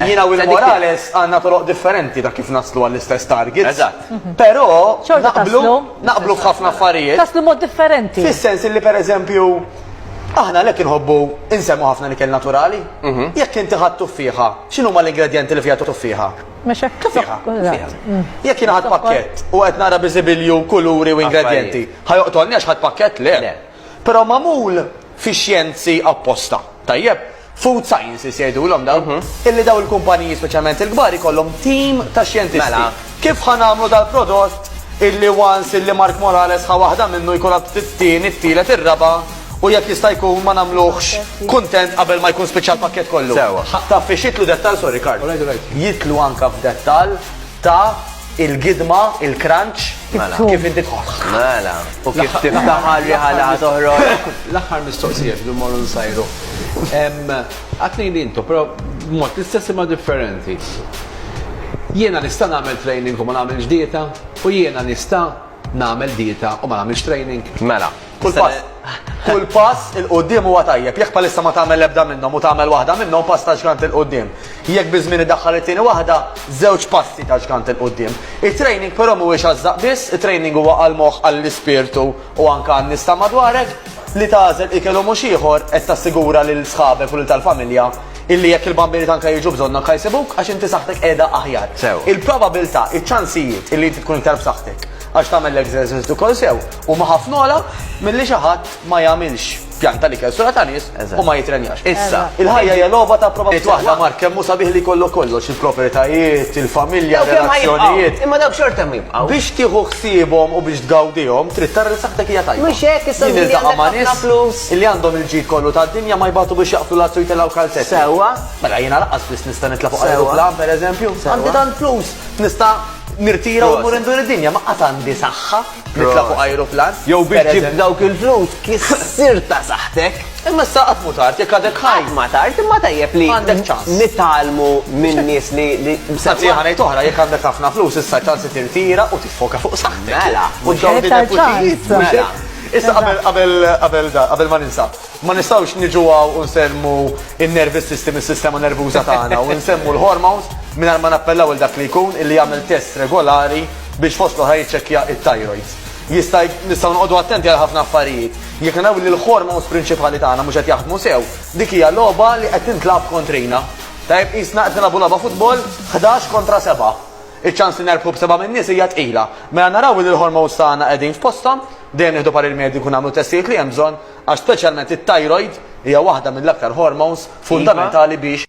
Jina u l-Morales għanna toroq differenti ta' kif naslu għall-istess target. Eżatt. Mhm. Pero, naqblu, naqblu f'ħafna affarijiet. Taslu mod differenti. Fis-sens li per eżempju, aħna lek inħobbu insemmu ħafna li kell naturali. Mhm. Jekk inti ħadd tuffiħa, x'inhu ma l-ingredienti li fiha tuffiħa? Mhux hekk tuffiħa. Mm. Jekk jien ħadd pakkett u qed nara biżibilju kuluri u ingredienti, ħajoqtolni għax ħadd pakkett le. Però magħmul fix-xjenzi apposta. Tajjeb? Food sciences jgħidulhom dawn. Illi dawn il-kumpaniji, speċjalment il-kbar, ikollhom tim ta' xjentisti. Mela. Kif ħa nagħmlu dal-prodott illi once illi Mark Morales ħa waħda minnu jkun għad it-tieni, it-tielet, ir-raba' u jekk jista' jkun ma nagħmluhx kuntent qabel ma jkun spiċċa l-pakkett kollu? Sewwa. Taf fiex jidħlu dettall, sorry Karl, jidħlu anke f'dettall ta' Il-gidma, il-crunch, kif inti tħoss. Mela, u kif tiftaħ għal-riħa li ħatoħroġ. L-aħħar mistoqsija x'du mmorru nsajru. Għatni li intu, però mod l-istess imma differenti. Jiena nista' nagħmel training u ma nagħmilx dieta u jiena nista' nagħmel dieta u ma nagħmilx training. Mela. Kull pass, kull pass il quddiem huwa tajjeb. Jekk bħalissa ma tagħmel l-ebda minnhom u tagħmel waħda minnhom pass ta' ġgant il quddiem. Jekk biż-żmien iddaħħal it-tieni waħda, żewġ passi ta' ġgant il quddiem. It-training però mhuwiex għaż-żaqq biss, it-training huwa għall-moħħ, għall-ispirtu u anke għan-nies ta' madwarek. Li tagħżel ikel u mhux ieħor qed tassigura lil sħabek u lil tal-familja illi jekk il-bambini tanka jiġu bżonnok ħa jsibuk għax inti saħħtek qiegħda aħjar. Sew. Il-probabilità, iċ-ċansijiet illi inti tkun iktar b'saħħtek. Għax tagħmel l-exercise ukoll sew huma ħafna ogħla milli xi ħadd ma jagħmilx pjan tal-ikel sura ta' nies u ma jitrenjax. Issa, il-ħajja hija logħba ta' probabilità. Waħda Mark kemm hu sabiħ li jkollok kollox, il-proprjetajiet, il-familja, relazzjonijiet. Imma dawk xorta hemm jibqgħu. Biex tieħu ħsiebhom u biex tgawdihom, trid tara li saħħtek hija tajba. Mhux hekk, issa li għandek ħafna flus. Li għandhom il-ġid kollu tad-dinja ma jbatu biex jaqbtu l-azzu jtellgħu kalzett. Sewwa. Mela jiena laqqas flus nista' nitla' fuq ajruplan pereżempju. Għandi tant flus, nista' Nirtira u mmur indur id-dinja, ma qatt għandi saħħa nitla' fuq ajruplan. Jew biex ġibt dawk il-flus kissirt ta' saħħtek. Imma issa qatt mhu tard jekk għadek ħaj. Qatt ma tard, imma tajjeb li nitgħallmu minn nies li. Anzi, ħa ngħid oħra, jekk għandek ħafna flus issa ċans li tirtira u tiffoka fuq saħħtek. Mela. Mhux qed tgħid. Mela. Issa qabel qabel qabel ma ninsa. Ma nistgħux niġu hawn u nsellmu n-nervous system, is-sistema nervuża tagħna, u nsemmu l-hormones mingħajr ma nappellaw lil dak li jkun illi jagħmel tests regolari biex fost l-oħrajn jiċċekkja t-thyroids. Jista' nistgħu noqogħdu attenti għal ħafna affarijiet. Jekk naraw illi l-hormones prinċipali tagħna mhux qed jaħdmu sew, dik hija logħba li qed tintlagħab kontrina. Tajjeb, qisna qed nilagħbu logħba futbol ħdax kontra sebgħa. Iċ-ċans li nerbħu b'sebgħa min-nies hija tqila. Mela naraw illi l-hormones tagħna qegħdin f'posthom, dejjem nieħdu parir mediku nagħmlu t-testijiet li hemm bżonn, Għax speċjalment it-thyroid hija waħda mill-aktar hormones fundamentali biex.